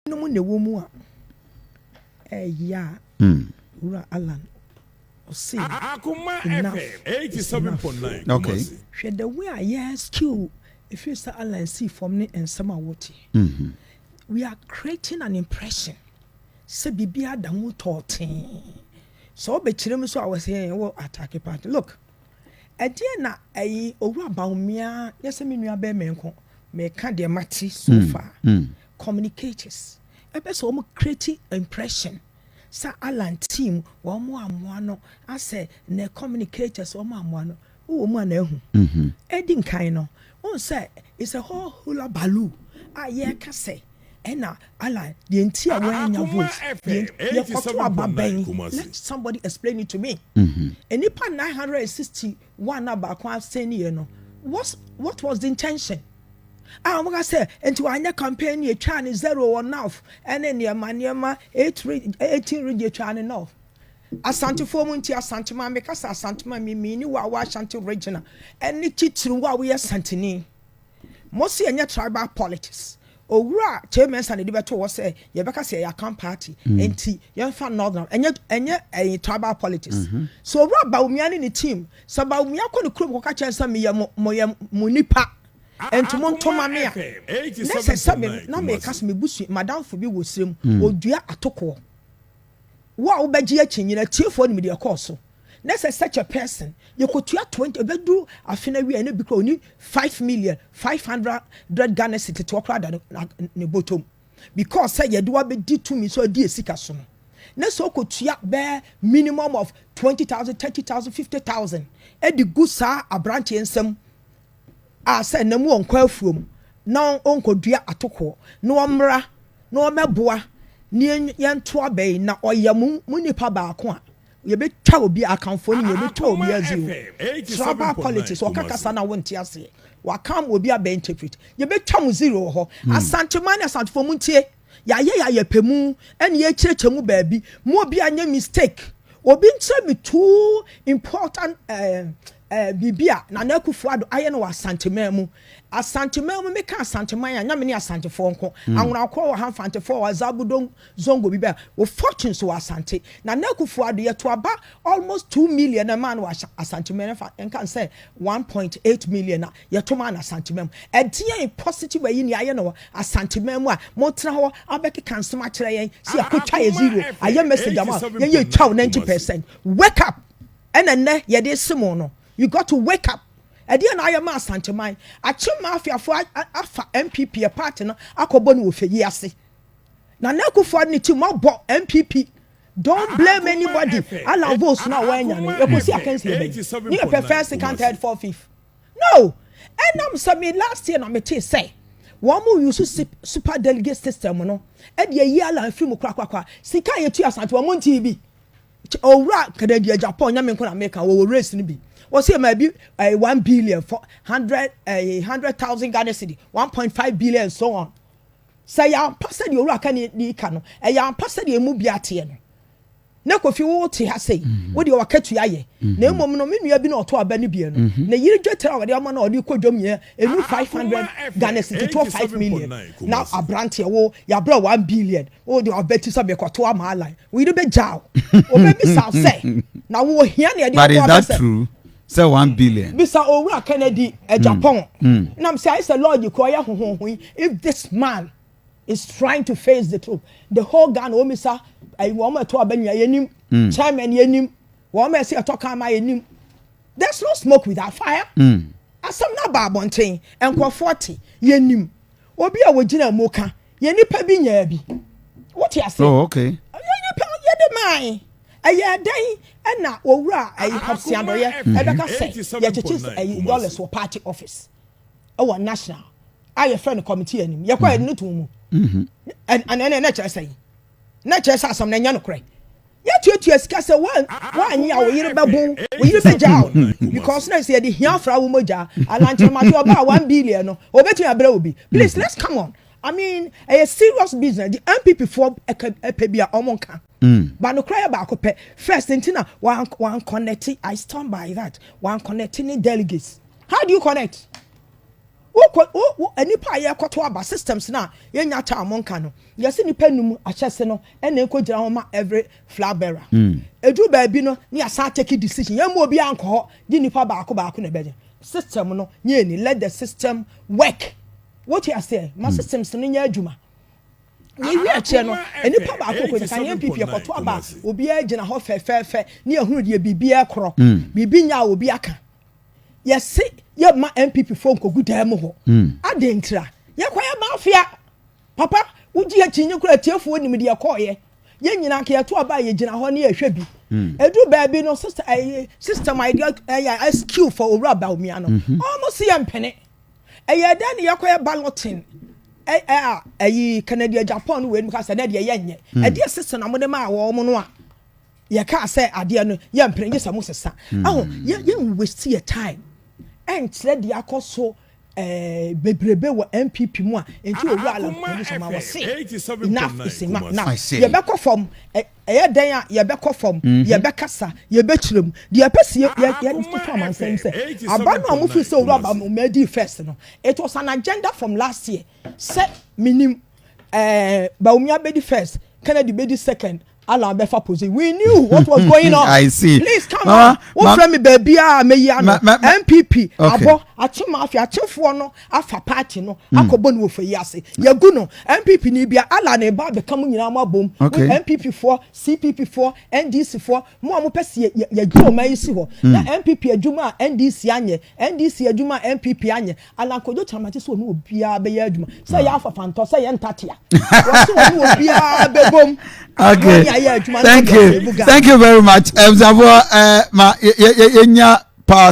Binom na ɛwɔ mu a ɛyɛ a Wura Allan ɔse enough enough. Okay. Hwɛ the way a yɛ skill ɛfiri sɛ Allan sii fam ne nsɛm a wote. We are creating an impression sɛ biribiara da mu tɔɔtee. Sɛ wobɛkyerɛ mu so a wɔse ɛɛ wo attack party. Look, ɛdeɛn na ɛyi Owura Bawumia nyɛ sɛ me nua bɛrima nko meka deɛ mate so far. communicators ɛpɛ sɛ wɔn create impression sɛ Allan team wɔn amoa no asɛ ne communicators wɔn amoa no wowɔ mu a na ahu ɛdi mhm. nkan no wɔn sɛ it's a whole hula baloo a yɛreka sɛ ɛna Allan deɛ nti a wɔanya vote deɛ yɛkɔto aba bɛn let somebody explain it to me mhm. nnipa mm -hmm. 960 Wɔn a na baako asɛnniiɛ no, what, what was the intention? A wɔka sɛ, nti wanyɛ campaign yɛ twaa ne zero wɔ North ɛne nneɛma nneɛma, eight, eighteen region twaa ne North. Asantefoɔ mu nti Asante ma mekasa Asante ma mimiini wɔ a wɔ Ashanti regional ɛne titiri wɔ a woyɛ Asanteni. Mo se ɛnyɛ tribal politics. Owura Kyei Mensah na ɛde bɛtoo hɔ sɛ yɛbɛka sɛ yɛyɛ Akan party nti yɛmfa Northern ɛnyɛ ɛnyɛ ɛyɛ tribal politics. So Owura Bawumia ne ne team sɛ Bawumia kɔ ne kurom kɔka kyerɛ sɛ meyɛ mo moyɛ mo nnipa nti monto ma me a na ɛsɛ sɛ me na meka sɛ me busua madamfo bi wɔ serem ɔdua atokoɔ. Wo a wobɛgye akyinnye no atiefoɔ nim deɛ ɛkɔɔ so. na sɛ such a person yɛkɔtua twenty ɛbɛduru afe no awie a na bi kora ɔni five million five hundred Ghana cedi tetewa koraa da ne bɔtɔm because sɛ yɛde wabɛdi tumi so adi asika so no na sɛ ɔkɔtua bɛɛ minimum of twenty thousand thirty thousand fifty thousand ɛde gu saa aberanteɛ nsam a sɛ na mu ɔnkɔ afuom na ɔnkɔdua atokoɔ na ɔmmra na ɔmmɛboa ne yɛntoa bɛn na ɔyɛ mo nipa baako a Yɛbɛtwa obi akanfoɔ no yɛbɛtwa obi adzi o tribal politics ɔka kasa na wonte aseɛ waka ama obi abɛ interpret yɛbɛtwa mo zero wɔ hɔ hmm. asanteman ne asantefoɔ mu ntie yɛayɛ yɛayɛ pɛ mu ɛne yɛkyerɛkyerɛ mu baabi mu obi anyɛ mistake obi nkyerɛ me too important uh, uh, biribi a nana akufo ado ayɛ no wɔ asanteman mu asanteman mu meka asanteman a nyame ne asantefoɔ nko hmm. anwonakorɔ wɔ ha mfantefoɔ wɔ azabodom Zongo bi bɛɛ wɔ fortunes wɔ Asante. Nana Akufo-Addo yɛ to aba almost two million na ɛmaa no wɔ Asante mɛ fa nka no sɛ one point eight million a yɛ to maa no Asante mɛ mu. Ɛdeɛn positive ayi ni ayɛ no wɔ Asante mɛ mu a mo tena hɔ abɛkeka nsɛm akyerɛ yɛn sɛ yɛ kɔ twa yɛ zero ayɛ message ama yɛn yɛ twa wo ninety percent. Wake up ɛna ɛnnɛ yɛ de se mo no you got to wake up. Ɛdeɛn na ayɛ ma Asante man? Akyem Mafiafoɔ afa NPP yɛ party no akɔ bɔ no wɔ fɛ yi ase. Nana Akufo-Addo ne timmɔbɔ NPP don't blame anybody ala votes no a wɔanya no yɛkɔsi akansie bɛn ne yɛpɛ first second third fourth fifth no ɛnam sɛ me last year na metee sɛ wɔn mo use super delegate system no ɛde ayi ala afiri mu korakorakora sika a yɛtu asante wɔn mo ntii bi owura kadadi agyapɔn nyame nko na meka wɔwɔ race no bi wɔsi ɛma bi ɛyɛ eh, one billion for hundred ɛyɛ eh, hundred thousand Ghana cedi one point five billion so on. Sɛ ɛyɛ ampa sɛdeɛ owura kani de ka no, ɛyɛ ampa sɛdeɛ emu bia teɛ no. Na kofi wo te ha sei, wo deɛ wakatua yɛ. Na mmom no, me nua bi na ɔto aba no bie no, ne yere dwetire a wɔde ama no a ɔde kɔ dwom yɛ enu 500 Ghana cedi to 5 million. Na abranteɛ wo, yɛabrɛ wo 1 billion, wo deɛ wabati sɛ mekɔto ama Allan. Wo yere bɛgyaa wo. Ɔbɛbisa wo sɛ, na wo ohia nea ɛde aboa bɛ sɛ. sɛ one billion. bisa owura kennedy ajapon nam sɛ ayɛ sɛ lɔɔgye kɔ ɔyɛ hohoho yi if this man is trying to face the truth the whole ghana wɔn misa ayi wɔn ɛtɔ aba nyinaa yɛnim chairman yɛnim wɔn ɛsɛ ɛtɔ kan ma yɛnim there's no smoke without fire asɛm no aba abɔnten nkurɔfoɔ te yɛnim obi a wɔgyina mu ka yɛn nipa bi nyaa bi wote ase oh, okay. yɛn nipa yɛde maae ɛyɛ dɛn ɛna owura ɛyi hapsiadɔyɛ ɛbɛka sɛ yɛkyekye ɛyi dollars wɔ party office ɛwɔ national a yɛfrɛ no committee anim yɛkɔ ɛde no to mu ɛnɛ ɛnɛ ɛkyerɛ sɛ yi. na kyerɛ sɛ asɛm no ɛnyɛ nokorɛ yɛtuatua sika sɛ woanyɛ a wo yere bɛbo wo yere bɛgyaa wo no because na sɛ yɛde hia fra wo mogya alankyerɛmate ɔbaa one billion no ɔbɛtumi abrɛ obi please let's come on I mean ɛyɛ serious business the MPP foɔ ɛpɛ bi a ɔmo nka ba nokorɛ yɛ baako pɛ first nti na wan connect I stand by that wan connect ne delegates how do you connect Wokɔ wo wo nnipa a yɛrekɔto aba systems no a yɛnya taa wɔn ka no yɛse nnipa num ahyɛse no ɛna ɛkɔgyina hɔ ma every flag bearer ɛduru baabi no na yɛasan take decision yɛmma obiara nkɔ hɔ gye nnipa baako baako na ɛbɛyɛ system no nyɛ ani let the system work wote aseɛ ma systems no nyɛ adwuma yɛwie akyerɛ no nnipa baako kɔ nyikan yɛn pipi ɛkɔto aba a obiara gyina hɔ fɛfɛɛfɛ ne ɛhunu deɛ biribi ɛkorɔ biribi nya a obi aka yɛse yɛmma npp foɔ nkɔgu dan mu hɔ hmm. adɛn ntira yɛkɔyɛ mafia papa wogye akyinye kora atiefoɔ nim deɛ kɔɔyɛ yɛn nyinaa ka yɛto aba a yɛgyina hɔ ne yɛhwɛ bi ɛduru hmm. baabi no sister ɛyɛ eh, sister my girl ɛyɛ eh, skill for owura baomia no mhm. ɔmo si yɛ mpene ɛyɛ dɛ ne yɛkɔyɛ balloting ɛyɛ eh, a ɛyi canada japan wei no mu ka sɛ dɛ deɛ yɛnyɛ ɛdeɛ sister na mo de maa wɔn no a. yɛkaa sɛ adeɛ no yɛmpere gye sɛ mo sesa hmm. aho yɛ yɛ waste yɛ time ɛnkyerɛ deɛ akɔ so eh, bebrebe wɔ npp mu a nti owu alankumu sɛ ma wɔ se enough is enough now yɛbɛkɔ fam ɛyɛ dɛn a yɛbɛkɔ fam mhm. yɛbɛkasa yɛbɛkyerɛ mu deɛ ɛpɛ si yɛfa amansɛm sɛ aba no a mofi sɛ owura aba ma adi first no it was an agenda from last year sɛ menim eh, baumia bɛdi first kennedy bɛdi second Allah bɛ fa pose we knew what was going on I see please come on wo fẹ́ mi bẹẹbi a mẹ yi ano NPP abọ akye mafia akyefoɔ no afa party no hmm. akɔbɔ no wɔ fɛ yi ase yɛgu no NPP ni bia Allah na ɛba abɛka mu nyinaa mo abom with NPP foɔ CPP foɔ NDC foɔ mo a mo pɛ si yɛ yɛ dwuma ɔman yi si hɔ hmm. na NPP adwuma a NDC anyɛ NDC adwuma a NPP anyɛ Allan Kojo Kyama gye sɛ ɔne obiara bɛyɛ adwuma sɛ ɛyɛ afafantɔ sɛ ɛyɛ ntatea wɔse ɔne obiara bɛbom okay thank you thank you very much ɛmsafoɔ eh, ma yɛnya power